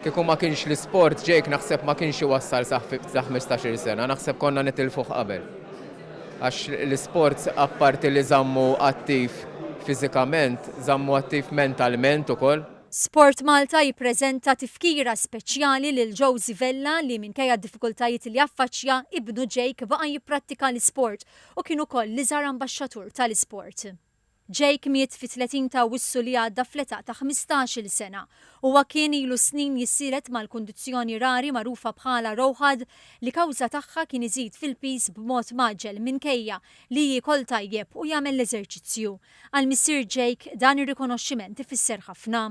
Kieku ma kienx l-isport Jake naħseb ma kienx iwassal sa ħmistax-il sena, naħseb konna nitilfuh qabel. Għax l-isport apparti li żammu attiv fiżikament, żammu attiv mentalment ukoll. SportMalta jippreżenta tifkira speċjali lil Josy Vella li minkejja d-diffikultajiet li affaċċja, ibnu Jake baqa' jipprattika l-isport u kien ukoll l-iżgħar ambaxxatur tal-isport. Jake miet fit-30 ta' Awwissu li għadda fl-età ta' ħmistax-il sena. Huwa kien ilu snin jissielet mal-kundizzjoni rari magħrufa bħala ROHAD li kawża tagħha kien iżid fil-piż b'mod mgħaġġel minkejja li jiekol tajjeb u jagħmel l-eżerċizzju. Għal missier Jake, dan ir-rikonoxximent ifisser ħafna.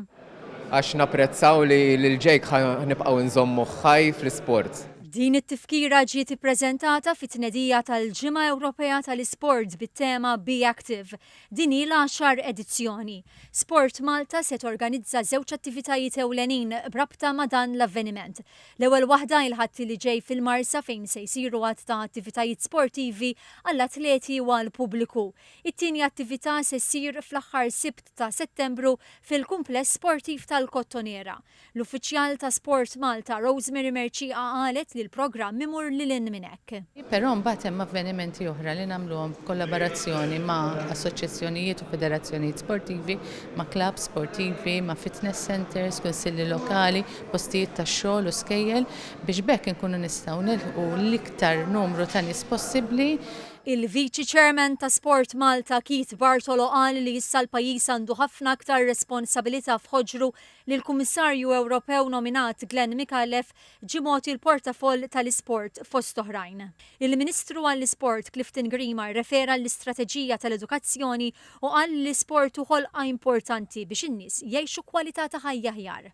Għax napprezzaw li lil Jake ħa nibqgħu nżommuh ħaj fl-isport. Din it-tifkira ġiet ippreżentata fit-tnedija tal-Ġimgħa Ewropea tal-Isport bit-tema Be Active. Din hi l-għaxar edizzjoni. SportMalta se torganizza żewġ attivitajiet ewlenin b'rabta ma' dan l-avveniment. L-ewwel waħda il-Ħadd li ġej fil-Marsa fejn se jsiru għadd ta' attivitajiet sportivi għall-atleti u għall-pubbliku. It-tieni attività se ssir fl-aħħar Sibt ta' Settembru fil-Kumpless Sportiv tal-Kottonera. L-Uffiċjal ta' Sport Malta Rosemary Mercieqa qalet li l-programm imur lil hinn minn hekk. Però mbagħad hemm avvenimenti oħra li nagħmluhom f'kollaborazzjoni ma' assoċjazzjonijiet u federazzjonijiet sportivi, ma' klabbs sportivi, ma' fitness centres, kunsilli lokali, postijiet tax-xogħol u skejjel biex b'hekk inkunu nistgħu nilħqu l-iktar numru ta' nies possibbli. Il-Viċi Chairman ta' Sport Malta Keith Bartolo qal li issa l-pajjiż għandu ħafna aktar responsabilità f'ħoġru li l-Kummissarju Ewropew nominat Glen Micallef ġie mogħti l-portafoll tal-isport fost oħrajn. Il-Ministru għall-Isport Clifton Grima rrefera l-istrateġija tal-edukazzjoni u qal li l-isport hu ħolqa importanti biex in-nies jgħixu kwalità ta' ħajja aħjar.